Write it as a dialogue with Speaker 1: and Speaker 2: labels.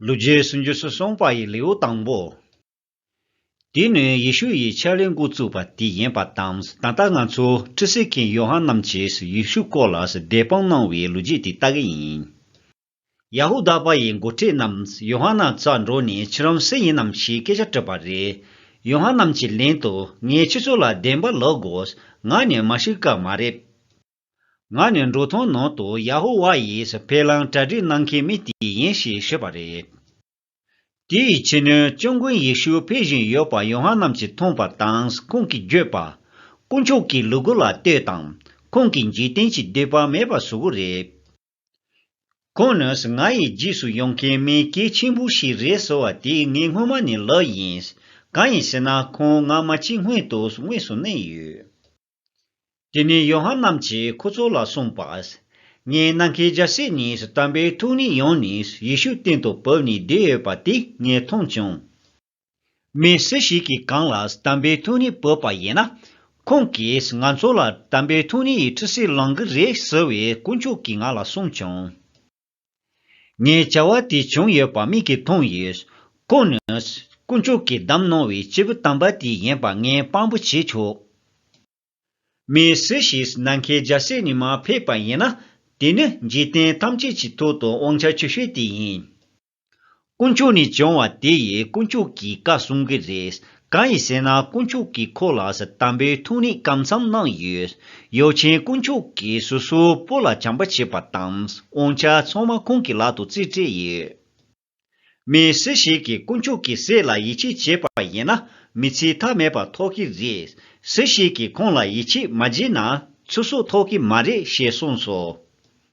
Speaker 1: ལུས་རྗེས་སུ་འཇུས་སུ་གསུངས་པ་ཡི་ལེའུ་དང་པོ། དེ་ནི་ཡེ་ཤུ་ཡི་ཕྱག་ལེན་འགོ་བཙུགས་པ་དེ་ཡིན་པ་དང་ད་ལྟ་ང་ཚོ་ཁྲི་སི་ཁན་ཡོ་ཧན་རྣམས་ཀྱིས་ཡེ་ཤུ་སྐོར་ལ་བདེ་དཔང་གནང་བའི་ལུས་རྗེས་དེ་ལྟ་གི་ཡིན། ཡ་ཧུ་དཱ་པ་ཡི་མགོ་ཁྲིད་རྣམས་ཡོ་ཧ་ན་རྩ་འགྲོ་ནས་ཁྱི་རམ་སེ་ཡིན་ནམ་ཞེས་སྐད་ཆ་དྲིས་པ་རེད། ཡོ་ཧ་ན་རྣམས་ཀྱི་ལན་དུ་ངས་ཁྱི་ཚོ་ལ་བདེན་པ་ལགས་དགོས་ང་ནི་མཱ་ཤི་ཀ་མ་རེད། ང་ནི་འབྲུག་ཐང་ནང་དུ་ཡ་ཧུ་བྷ་ཡིས་ཕེ་ལང་གྲ་སྒྲིག་གནང་མཁན་མི་དེ་ཡིན་ཞེས་ཤོད་པ་རེད། དེའི་ཕྱི་ནས་སྤྱང་དགོན་ཡེ་ཤུ་ཕེབས་བཞིན་ཡོད་པ་ཡོ་ཧ་ནན་གྱིས་མཐོང་པ་དང་ཁོང་གིས་བརྗོད་པ། དཀོན་མཆོག་གི་ལུ་གུ་ལ་ལྟོས་དང། ཁོང་གི་འཇིག་རྟེན་གྱི་འདོད་པ་མེད་པ་བཟོ་གི་རེད། ཁོང་ནི་ང་ཡི་རྗེས་སུ་ཡོང་མཁན་མི་གལ་ཆེན་པོ་ཞིག་རེད་ཟེར་བ་དེ་ངས་སྔོན་མ་ནས་ལབ་ཡིན། གང་ཡིན་ཟེར་ན་ཁོང་ང་མ་འཆི་སྔོན་དུ་དངོས་སུ་གནས་ཡོད། དེ་ནས་ཡོ་ཧན་རྣམས་ཀྱིས་ཁོ་ཚོ་ལ་གསུངས་པ། ངའི་ནང་གི་རྒྱལ་སྲས་ནི་དམ་པའི་ཐུགས་ནི་ཡོང་ནས་ཡེ་ཤུ་སྟེང་དུ་བབས་ནས་བསྡད་ཡོད་པ་དེ་ངས་མཐོང་བྱུང། མི་སུ་ཞིག་གིས་གང་ལ་དམ་པའི་ཐུགས་ནི་བབས་པ་ཡིན་ན། ཁོང་གིས་ང་ཚོ་ལ་དམ་པའི་ཐུགས་ནི་ཡི་ཁྲི་སྲིད་ལང་གི་རེད་ཟེར་བའི་དཀོན་མཆོག་གིས་ང་ལ་གསུངས་བྱུང། ངས་བྱ་བ་དེ་བྱུང་ཡོད་པ་མིག་གིས་མཐོང་ཡོད། ཁོང་ནི། དཀོན་མཆོག་གིས་བདམས་གནང་བའི་སྐྱེས་བུ་དམ་པ་དེ་ཡིན་པ་ངས་དཔང་པོ་བྱེད་ཆོག། མི་སུ་ཞིག་ནམ་མཁའི་རྒྱལ་སྲས་ནས་མ་ཕེབས་པ་ཡིན་ན། དེ་ནི་འཇིག་རྟེན་ཐམས་ཅད་ཀྱི་ཐོག་ཏུ་དབང་ཆ་ཆེ་ཤོས་དེ་ཡིན། དཀོན་མཆོག་ནས་བྱུང་བ་དེ་ཡིས་དཀོན་མཆོག་གིས་བཀའ་གསུང་གི་རེད། གང་ཡིན་ཟེར་ན་དཀོན་མཆོག་གིས་ཁོ་ལ་ས་དམ་པའི་ཐུགས་ནས་བཀའ་མཚམས་གནང་ཡོད། ཡོ་ཆེན་དཀོན་མཆོག་གིས་སོ་སོའི་བུ་ལ་བྱམས་པ་བྱེད་པ་དང་དབང་ཆ་ཚང་མ་ཁོང་གི་ལག་ཏུ་བརྩིས་སྤྲད་ཡོད། མི་སུ་ཞིག་གིས་དཀོན་མཆོག་གི་སྲས་ལ་ཡིད་ཆེས་བྱས་པ་ཡིན་ན་མི་ཚེ་མཐའ་མེད་པ་ཐོག་གི་རེད། སུ་ཞིག་གིས་ཁོང་ལ་ཡིད་ཆེས་མ་བྱས་ན་ཚེ་སྲོག་ཐོག་གི་མ་རེད་ཞེས་གསུངས་སོ།